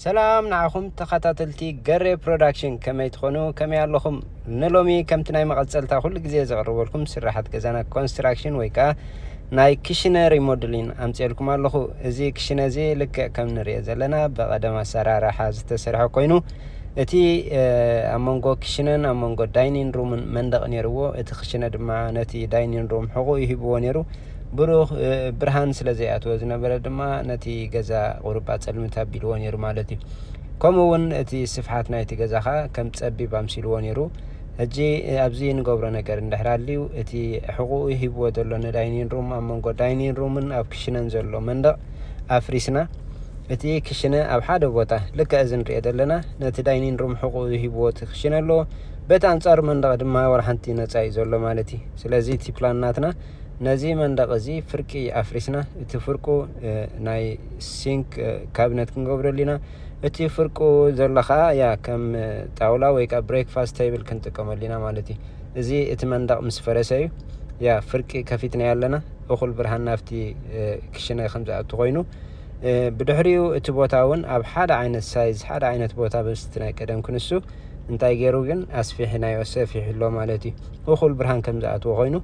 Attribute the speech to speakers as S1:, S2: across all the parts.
S1: ሰላም ንዓኹም ተኸታተልቲ ገሬ ፕሮዳክሽን ከመይ ትኾኑ ከመይ ኣለኹም ንሎሚ ከምቲ ናይ መቐፀልታ ኩሉ ግዜ ዘቕርበልኩም ስራሓት ገዛና ኮንስትራክሽን ወይ ከዓ ናይ ክሽነ ሪሞድሊን ኣምፅኤልኩም ኣለኹ እዚ ክሽነ እዚ ልክዕ ከም ንሪኦ ዘለና ብቐደም ኣሰራርሓ ዝተሰርሐ ኮይኑ እቲ ኣብ መንጎ ክሽነን ኣብ መንጎ ዳይኒን ሩምን መንደቕ ነይርዎ እቲ ክሽነ ድማ ነቲ ዳይኒን ሩም ሕቑኡ ይሂብዎ ነይሩ ብሩኽ ብርሃን ስለ ዘይኣትዎ ዝነበረ ድማ ነቲ ገዛ ቁሩባ ጸልምት ኣቢልዎ ነይሩ ማለት እዩ። ከምኡ እውን እቲ ስፍሓት ናይቲ ገዛ ኸኣ ከም ጸቢብ ኣምሲልዎ ነይሩ። ሕጂ ኣብዚ እንገብሮ ነገር እንድሕር ኣልዩ እቲ ሕቑኡ ሂብዎ ዘሎ ንዳይኒን ሩም ኣብ መንጎ ዳይኒን ሩምን ኣብ ክሽነን ዘሎ መንደቕ ኣፍሪስና እቲ ክሽነ ኣብ ሓደ ቦታ ልክዕ እዚ ንሪኦ ዘለና ነቲ ዳይኒን ሩም ሕቑኡ ሂብዎ እቲ ክሽነ ኣለዎ በቲ ኣንጻሩ መንደቕ ድማ ወላ ሓንቲ ነጻ እዩ ዘሎ ማለት እዩ። ስለዚ እቲ ፕላን ናትና ነዚ መንደቕ እዚ ፍርቂ ኣፍሪስና እቲ ፍርቁ ናይ ሲንክ ካብነት ክንገብረሉ ኢና። እቲ ፍርቁ ዘሎ ከኣ ያ ከም ጣውላ ወይ ከኣ ብሬክፋስት ቴብል ክንጥቀመሉ ኢና ማለት እዩ። እዚ እቲ መንደቕ ምስ ፈረሰ እዩ ያ ፍርቂ ከፊትናዮ ኣለና። እኹል ብርሃን ናብቲ ክሽነ ከም ዝኣቱ ኮይኑ ብድሕሪኡ እቲ ቦታ እውን ኣብ ሓደ ዓይነት ሳይዝ ሓደ ዓይነት ቦታ ምስቲ ናይ ቀደም ክንሱ እንታይ ገይሩ ግን ኣስፊሕናዮ ሰፊሑ ኣሎ ማለት እዩ እኹል ብርሃን ከም ዝኣትዎ ኮይኑ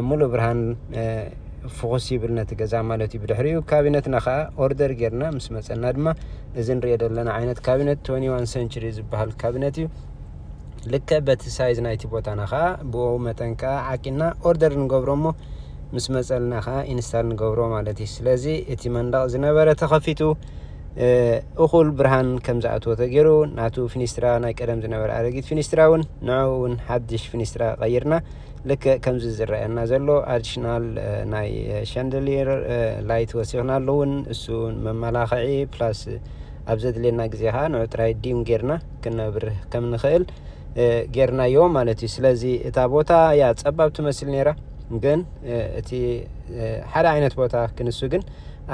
S1: ሙሉእ ብርሃን ፍኹስ ይብል ነቲ ገዛ ማለት እዩ ብድሕሪኡ ካቢነትና ከዓ ኦርደር ጌርና ምስ መፀና ድማ እዚ ንሪኦ ዘለና ዓይነት ካቢነት ቶኒ ዋን ሰንችሪ ዝበሃል ካቢነት እዩ ልከ በቲ ሳይዝ ናይቲ ቦታና ከዓ ብኡ መጠን ከዓ ዓቂና ኦርደር ንገብሮ እሞ ምስ መፀልና ከዓ ኢንስታል ንገብሮ ማለት እዩ ስለዚ እቲ መንደቕ ዝነበረ ተኸፊቱ እኹል ብርሃን ከም ዝኣትዎ ተገይሩ ናቱ ፊኒስትራ ናይ ቀደም ዝነበረ ኣረጊት ፊኒስትራ እውን ንዕኡ እውን ሓድሽ ፊኒስትራ ቀይርና ልክዕ ከምዚ ዝረኣየና ዘሎ ኣዲሽናል ናይ ሻንደሊር ላይት ወሲኽናሉ እውን እሱ መመላኽዒ ፕላስ ኣብ ዘድልየና ግዜ ከዓ ንዑ ጥራይ ዲም ጌርና ክነብርህ ከም ንኽእል ጌርናዮ ማለት እዩ ስለዚ እታ ቦታ እያ ጸባብ ትመስል ነይራ ግን እቲ ሓደ ዓይነት ቦታ ክንሱ ግን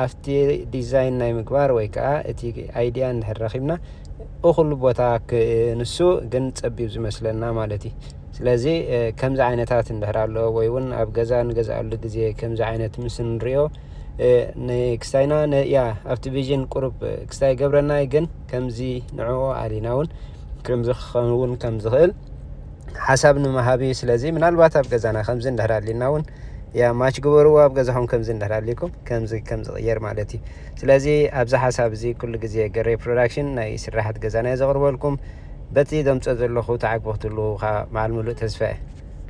S1: ኣብቲ ዲዛይን ናይ ምግባር ወይ ከዓ እቲ ኣይዲያ እንድሕር ረኺብና እኹሉ ቦታ ክንሱ ግን ፀቢብ ዝመስለና ማለት እዩ። ስለዚ ከምዚ ዓይነታት እንድሕር ኣሎ ወይ እውን ኣብ ገዛ ንገዝኣሉ ግዜ ከምዚ ዓይነት ምስ ንሪኦ ንክስታይና ያ ኣብቲ ቪዥን ቁሩብ ክስታይ ገብረናይ ግን ከምዚ ንዕኡ ኣሊና እውን ከምዚ ክኸውን ከም ዝኽእል ሓሳብ ንምሃብ እዩ ስለዚ ምናልባት ኣብ ገዛና ከምዚ እንድሕር ኣሊና እውን ያ ማች ግበርዎ ኣብ ገዛኹም ከምዚ እንድሕር ኣሊኩም ከምዚ ከም ዝቕየር ማለት እዩ ስለዚ ኣብዚ ሓሳብ እዚ ኩሉ ግዜ ገሬ ፕሮዳክሽን ናይ ስራሓት ገዛና ዘቕርበልኩም በቲ ዘምፀ ዘለኹ ተዓግቢ ክትህልውካ መዓል ምሉእ ተስፋ እየ